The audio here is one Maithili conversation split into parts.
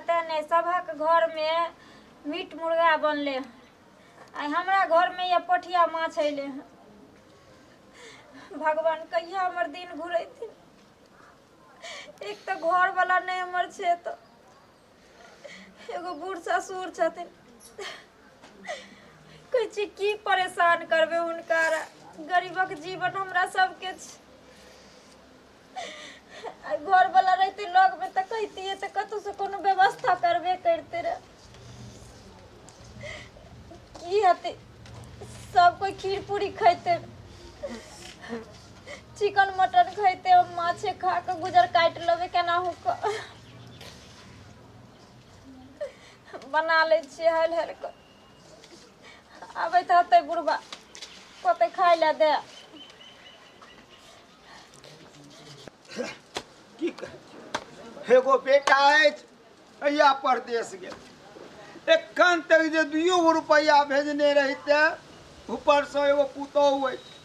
तेने सबक घर में मीट मुर्गा बनले आ हमरा घर में ये पोठिया माछ अइले हँ। भगवान कहिया हमर दिन घुरेथिन एक तऽ घर वाला नहि हमर छै तऽ एगो बूढ़ ससुर छथिन कहै छी की परेशान करबै हुनका गरीबक जीवन हमरा सबके छै आ घरवला रहिते लगमे तऽ कहितियै तऽ कतहुसँ कोनो व्यवस्था करबे करिते रह की हेतै सब कोइ खीर पूरी खैते चिकन मटन खैते हम माछे खा कऽ गुजर काटि लेबै केनाहू कऽ बना लै छियै हलि हलि कऽ अबैत रहतै बुढ़बा कतै खाय लए दे की कह- एगो बेटा अछि अहिया परदेश गेल एखन तक जे दुइयो गो रुपैआ भेजने रहिते ऊपरसँ एगो पुतोहु अछि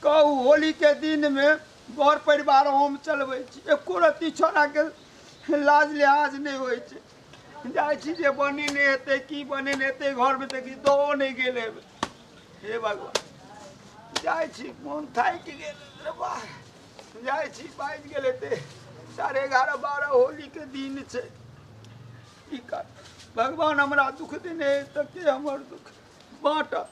कहू होलीके दिनमे घर परिवार हम चलबै छी एको रत्ती छोड़ाके लाज लिहाज नहि होइ छै जाइ छी जे बनेने हेतै की बनेने हेतै घरमे तऽ किछु दहो नहि गेल हेबै हे भगवान जाइ छी मोन थाकि गेल बाह जाइ छी बाजि गेल हेतै साढ़े एगारह बारह होलीके दिन छै की कर भगवान हमरा दुख देने तऽ के हमर दुख बाँटत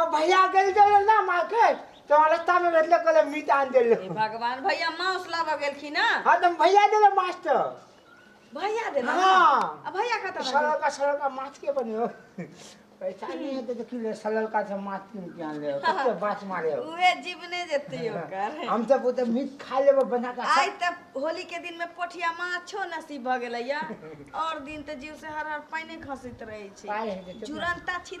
अब भैया गेल जब ना मार्केट तो रास्ता में भेटले कहले मीट आन देले हे भगवान भैया मांस लाबऽ गेलखिन ना हाँ तो भैया देले मास्टर भैया दे ना हाँ। आ भैया खत्म है सरल का सरल का माछ के बने हो पैसा नहीं है तो देखी ले सरल का से माछ किन के आन ले कते बात मारे हो उहे जीव नहीं देती ओकर हम सब वो तो मीट खा लेबो बना का आइ त होली के दिन में पोठिया माछो नसीब भ गेलैया और दिन त जीव से हर हर पाइने खसित रहै छै पाइ छै हेतै तऽ- जुरंता छी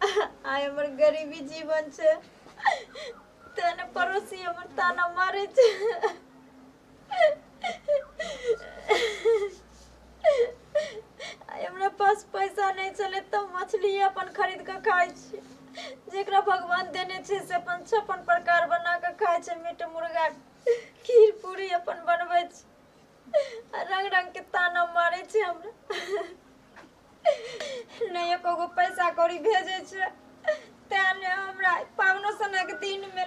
आइ हमर गरीबी जीवन छै तें ने पड़ोसी हमर ताना मारे छै आइ हमरा पास पैसा नहि छलै तऽ मछली अपन खरीद कऽ खाइ छी जेकरा भगवान देने छै से अपन छप्पन प्रकार बना कऽ खाइ छै मीट मुर्गा खीर पूरी अपन बनबै छै आ रंग रंग के ताना मारे छे हमरा नहीं एको गो पैसा कौड़ी भेजे छे ते ने हमरा पावनो सना के दिन में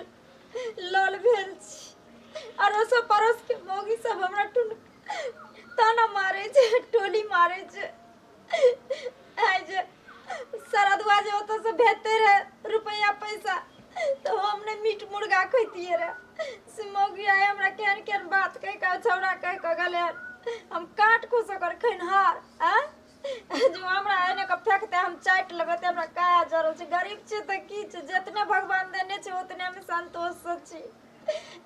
लल भेल छी अड़ोस पड़ोस के मौगी सब हमरा टुन ताना मारे छे टोली मारे छे आइ जे सरदुआ जे ओतऽसँ भेजते रहै रुपैआ पैसा तऽ हम नहि मीट मुर्गा खैतियै रहै से मौगी आइ हमरा केहन केहन बात कहि कऽ छौड़ा कहि कऽ गेलै हम काट को सकर खैनहार आ जो हमरा एने के फेकते हम चाटि लेबै तऽ हमरा काया जरल छै गरीब छै तऽ की छै जितने भगवान देने छै उतने हम संतोष से छी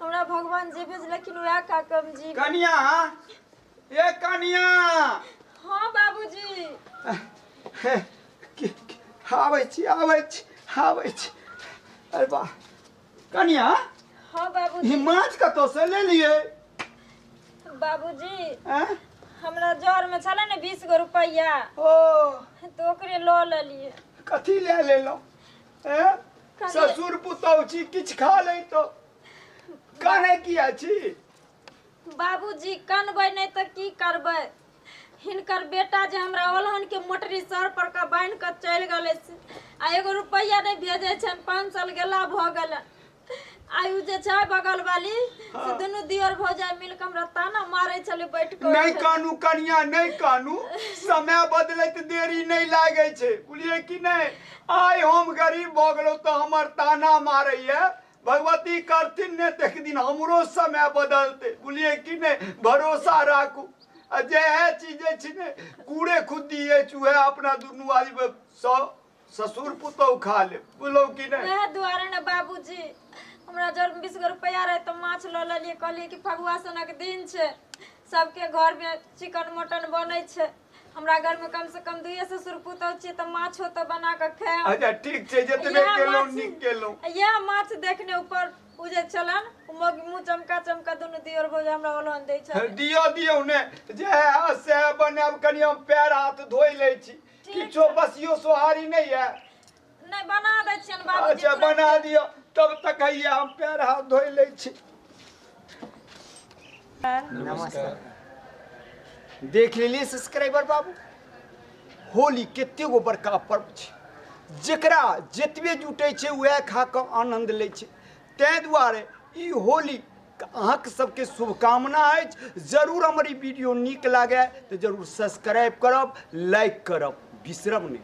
हमरा भगवान जे भेजलखिन उएह खा कऽ हम जी कनिया ए कनिया हाँ बाबूजी हे, कि- कि- आबै छी आबै छी आबै छी अरे वाह कनिया हाँ ई बाबूजी माछ कतौ से ले लिए बाबूजी आँ? हमरा जर में छले ने बीस गो रुपया ओ तो ओकरे लो लेलिए कथी ले लेलहुँ आँ? कनिया- ससुर पुतहु छी किछु खा लैतो काने किया छी बाबूजी कनबै नहि तऽ की करबै हिनकर बेटा जे हमरा ओलहनके मोटरी सर पर कऽ बान्हि कऽ चलि गेलै से आ एगो रुपैआ नहि भेजै छनि पाँच साल गेला भऽ गेलै आइ ओ जे छै बगल वाली से दुनू दियर भौजाइ मिल कऽ हमरा ताना मारै छलै बैठ कऽ नहि कानू कनिया नहि कानू समय बदलैत देरी नहि लागै छै बुझलियै कि नहि आइ हम गरीब भऽ गेलहुँ तऽ हमर ताना मारैए भगवती करथिन ने तऽ एक दिन हमरो समय बदलतै बुझलियै कि नहि भरोसा राखू आ जएह चीज जे छै ने कूड़े खुद्दी अछि उएह अपना दुनू आदमी सँ ससुर पुतहु खा लेब बुझलहुँ कि नहि वएह दुआरे ने बाबूजी हमरा जर बीस गो रुपैआ रहै तऽ माछ लऽ लेलियै कहलियै कि फगुआ सनक दिन छै सबके घरमे चिकन मटन बनै छै हमरा घर में कम से कम दुइये ससुर पुतौ छियै तऽ माछ होतऽ बना कऽ खायब अच्छा ठीक छै जतबे इएह केलहुँ माछ- नीक केलहुँ आ इएह माछ देखने ऊपर ओ जे छलन ओ मग- मुँह चमका चमका दुनू दियोर भौज हमरा ओलहन दै छल दियौ दियौ ने जे हैत सएह बनायब कनि हम पैर हाथ धोइ लै छी किछो बसियो सोहारी नहि यऽ नहि बना दै छियनि बाबूजी अच्छा बना दिअ तब तक आइए हम पैर हाथ धोइ लै छी नमस्कार देख लेलियै सब्सक्राइबर बाबू होली कते गो बड़का पर्व छै जकरा जतबे जुटै छै उएह खा कऽ आनन्द लै छै ताहि दुआरे ई होली अहाँक सबके शुभकामना अछि जरूर हमर ई वीडियो नीक लागए तऽ जरूर सब्सक्राइब करब लाइक करब बिसरब नहि